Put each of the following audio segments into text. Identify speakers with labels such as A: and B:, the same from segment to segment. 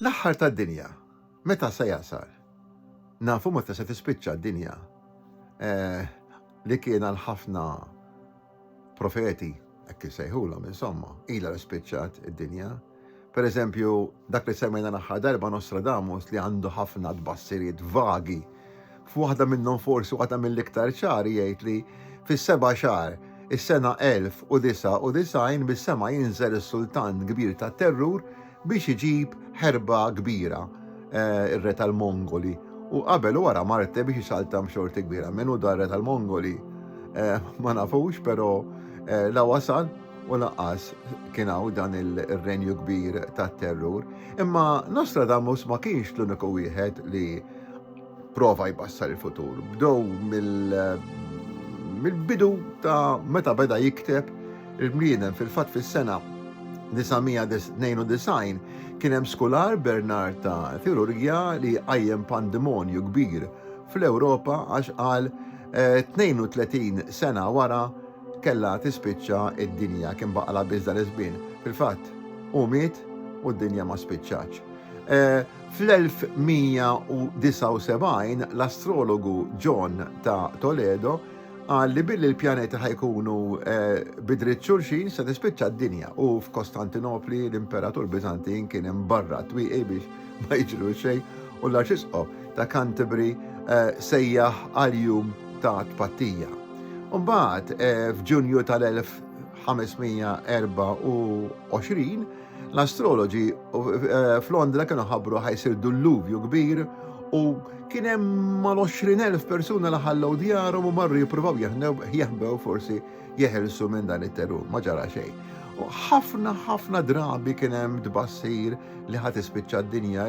A: L-aħħar tad-dinja, meta se jasal? Nafu meta se tispiċċa d-dinja, eh, li kien għal ħafna profeti, hekk insejħulhom insomma, ilha li spiċċat id-dinja. Per eżempju, dak li semmejna l-aħħar darba Nostradamus li għandu ħafna tbassiriet vagi F'waħda minnhom forsi waħda mill-iktar ċari jgħid li fis-seba' xahar is-sena 1099 mis-sema jinżel is-sultan kbir tat-terrur biex iġib ħerba kbira, eh, ir-re tal-Mongoli, u qabel u wara Marte biex isaltam xorti kbira. Min hu dar-re tal-Mongoli eh, ma nafux, però eh, la wasal u laqqas kien hawn dan il-renju kbir tat-terrur. Imma Nostradamus ma kienx l-uniku wieħed li prova jbassar il-futur. Bdow mill-bidu ta' meta beda jikteb il-bliedem fil-fat fis-sena 992 kien hemm skular Bernard ta' Tirurgja li qajjem pandemonju kbir fl-Ewropa għax qal 32 eh, sena wara kella tispiċċa id-dinja kien baqala biss dan iż-żmien. Fil-fatt, u miet u d-dinja ma spiċċaċ. Eh, Fl-1179, l-astrologu John ta' Toledo qal li billi l-pjaneti ħa jkunu bi dritt xulxin se tispiċċa d-dinja u f'Kostantinopli l-Imperatur Biżantin kien imbarra t-twieqi biex ma jiġru xejn u l-Arċisqof ta' Canterbury sejjaħ għal jum ta' tpattija. Imbagħad f'Ġunju tal-1524, L-astroloġi f'Londra kienu ħabbru ħajsir dulluvju kbir u kien hemm mal-20,000 persuna li ħallew djarhom u marru jippruvaw jeħbew forsi jeħelsu minn dan it-terur, ma ġara xejn. U ħafna ħafna drabi kien hemm tbassir li ħadd ispiċċa d-dinja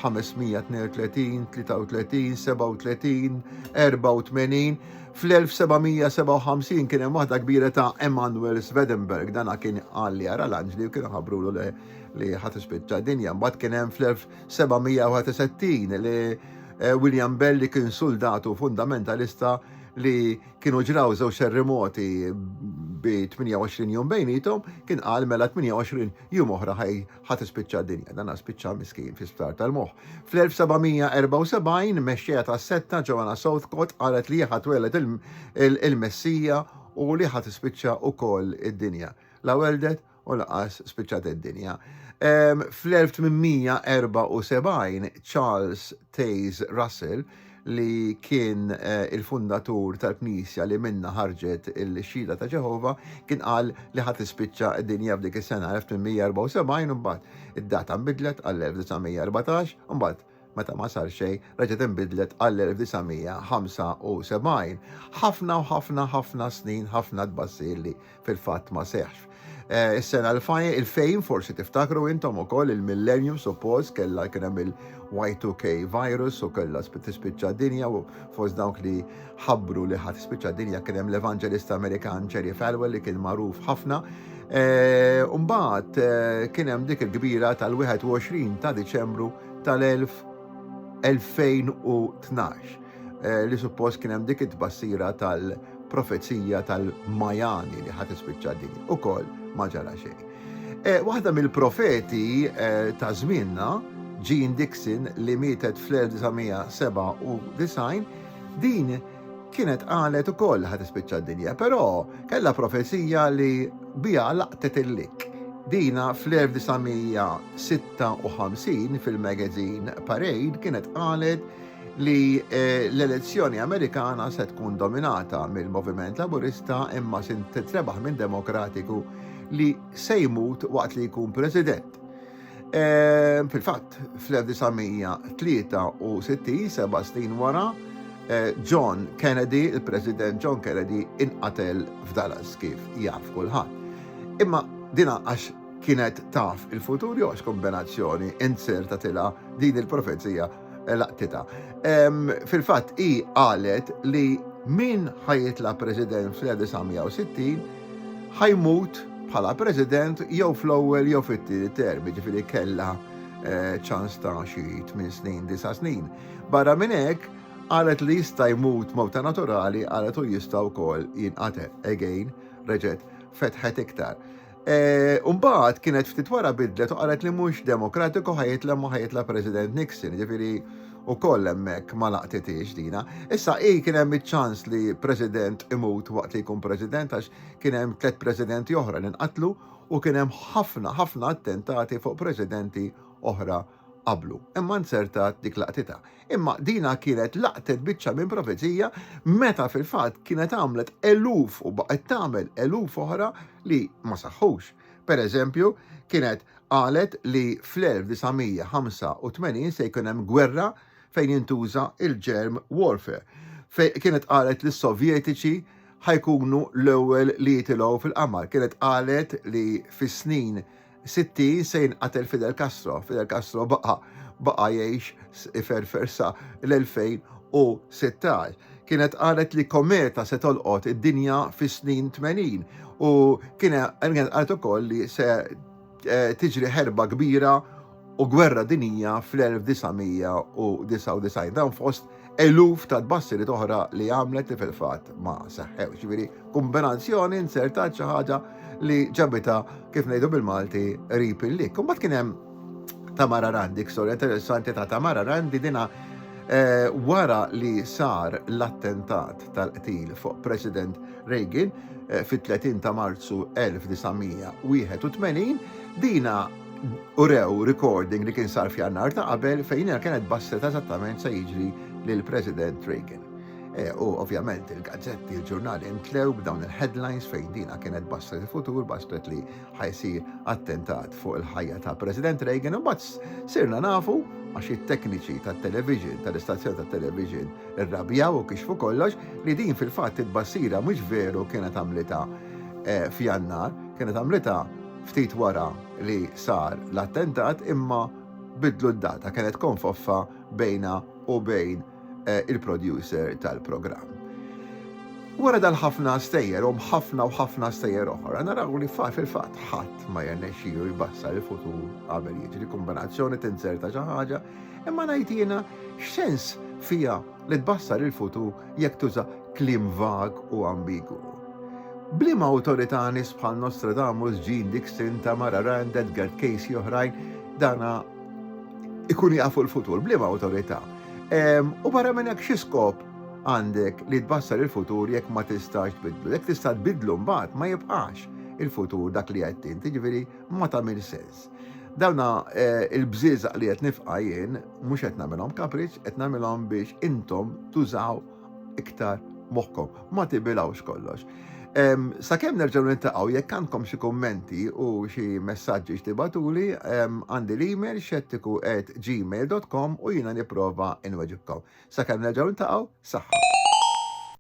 A: 1532, 33, 37, 84, Fl-1757 kien hemm waħda kbira ta' Emanuel Swedenborg, dana kien qal li jara l-anġli u kienu ħabrulu li li ħat ispiċċa dinja. Mbagħad kien hemm fl-1761 li eh, William Bell li kien suldatu fundamentalista li kienu ġraw żewġ terremoti bi 28 jum bejnietom, kien qal mela 28 jum oħra ħaj ħa tispiċċa d-dinja, dan spiċċa miskin fi sptar tal-moħħ. Fl-1774, mexxejja tas-setta Joanna Southcott qalet li ħa tweled il-Messija u li ħa tispiċċa wkoll id-dinja. La weldet u laqas spiċċat id-dinja. Fl-1874, Charles Taze Russell li kien eh, il-fundatur tal-Knisja li minna ħarġet il-xhieda ta' Ġeħova, kien qal li ħadd ispiċċa d-dinja f'dik is-sena 1874 u mbagħad id-data nbidlet għall-1914 u mbagħad meta ma sar xejn reġgħet inbidlet għall-1975. Ħafna u ħafna ħafna snin ħafna tbassir li fil-fatt ma seħx. Eh, is-sena l-fajn il-fejn forsi tiftakru intom ukoll il-millennium suppost kellha kien hemm il-Y2K virus u kellha tispiċċa dinja u fost dawk li ħabbru li ħadd tispiċċa dinja kien hemm l-Evanġelista Amerikan Cherry Falwell li kien magħruf ħafna. Eh, Umbagħad eh, kien hemm dik il-kbira tal-21 ta' Diċembru tal-1000 2012 eh, li suppost kien hemm dik it-tbassira tal-profezija tal-Majani li ħadd ispiċċa din ukoll ma ġara xejn. Eh, waħda mill-profeti eh, ta' żmienna, Jean Dixon li mietet fl-1997, din kienet qalet ukoll ħad ispiċċa d-dinja, però kellha profezija li biha laqtet il-lik. Dina fl-1956 fil-magazine Parade kienet qalet li eh, l-elezzjoni Amerikana se tkun dominata mill-Moviment Laburista imma se titrebaħ minn Demokratiku li se jmut waqt li jkun President. Eh, fil-fatt, fl-1963, seba' snin wara, eh, John Kennedy, il-President John Kennedy, inqatel f'Dallas kif jaf kulħadd. Imma dina għax kienet taf il-futur jew għax kombinazzjoni inzerta tila din il-profezija eh, laqtita. Fil-fatt i qalet li min ħajitla president fl-1960 ħajmut bħala president jew fl-ewwel jew fit-tieni term, ġifieri kellha eh, ċans ta' xi 8 snin, 9 snin. Barra minn hekk, qalet li jista' jmut mewta naturali qalet u jista' wkoll jinqatel. Again, reġet fetħet iktar. Eh, Umbaħt kienet ftit wara bidlet u qalet li mhux demokratiku ħajitla ma ħajitla President Nixon, ġifiri u koll emmek ma laqtitiex dina. Issa i kien hemm iċ-ċans li President imut waqt li jkun President għax kien hemm tliet Presidenti oħra li nqatlu u kien hemm ħafna ħafna attentati fuq Presidenti oħra qablu. Imma nzertat dik laqtita. Imma dina kienet laqtet biċċa minn profezija meta fil-fatt kienet għamlet eluf u baqgħet tagħmel eluf oħra li ma saħħux. Per eżempju, kienet qalet li fl-1985 se jkun hemm gwerra fejn jintuża il-germ warfare. Fej kienet qalet li s-Sovjetiċi ħajkunu l-ewwel li jitilgħu fil-qamar. Kienet qalet li fis-snin 60 se jinqatel Fidel Castro. Fidel Castro baqa' baqa' jgħix iferfer sa l-2016. Kienet qalet li kometa se tolqot id-dinja fis-snin 80 u kienet qalet ukoll li se eh, tiġri ħerba kbira u gwerra dinija fl-1999 dan fost eluf ta' tbassirit oħra li għamlet li fil-fatt ma seħħew. Ġifieri kombinazzjoni insertat xi ħaġa li ġabita kif ngħidu bil-Malti rip il-lik. Imbagħad kien hemm Tamara Randi, storja interessanti ta' Tamara Randi dina eh, wara li sar l-attentat tal-qtil fuq President Reagan eh, fit-30 ta' Marzu 1981, dina urew recording li kien sar f'jannar ta' qabel fejn hija kienet bassret eżattament se jiġri lil President Reagan. E, u ovvjament il-gazzetti, il-ġurnali intlew b'dawn il-headlines fejn dina kienet bassret il-futur, bassret li ħajsir attentat fuq il-ħajja ta' President Reagan, u bat sirna nafu għax it-tekniċi tat-television, tal-istazzjoni tat-television irrabjaw u kixfu kollox li din fil-fatt il-bassira mhux veru kienet għamlita e, f'jannar, kienet għamlita ftit wara li sar l-attentat imma biddlu d-data, kienet konfoffa bejnha u bejn il-producer tal-programm. Wara dal-ħafna stejjer u ħafna u ħafna stejjer oħra, naraw li fil-fatt ħadd ma jirnexxielu jbassar il-futur qabel jiġri, kumbinazzjoni tinzerta xi ħaġa, imma ngħid jiena x'sens fiha li tbassar il-futur jekk tuża kliem vag u ambigwu. B'liema awtorità nies bħal Nostradamus, Jean Dixon, Tamara Rand, Edgar Cayce oħrajn dana ikun jafu l-futur, b'liema awtorità. U barra minn hekk xi skop għandek li tbassar il-futur jekk ma tistax tbidlu. Jekk tista' tbidlu mbagħad ma jibqax il-futur dak li qed inti, ġifieri ma tagħmel sens. Dawna eh, il-bżieżaq li qed nifqa' jien mhux qed nagħmilhom kapriċ, qed nagħmilhom biex intom tużaw iktar moħħkom. Ma tibilawx kollox. Sakemm nerġgħu nintaqgħu jekk għandkom xi kummenti u xi messaġġi x'tibatuli għandi l-email xettiku at gmail.com u jiena nipprova inweġibkom. Sakemm nerġgħu nintaqgħu, saħħa.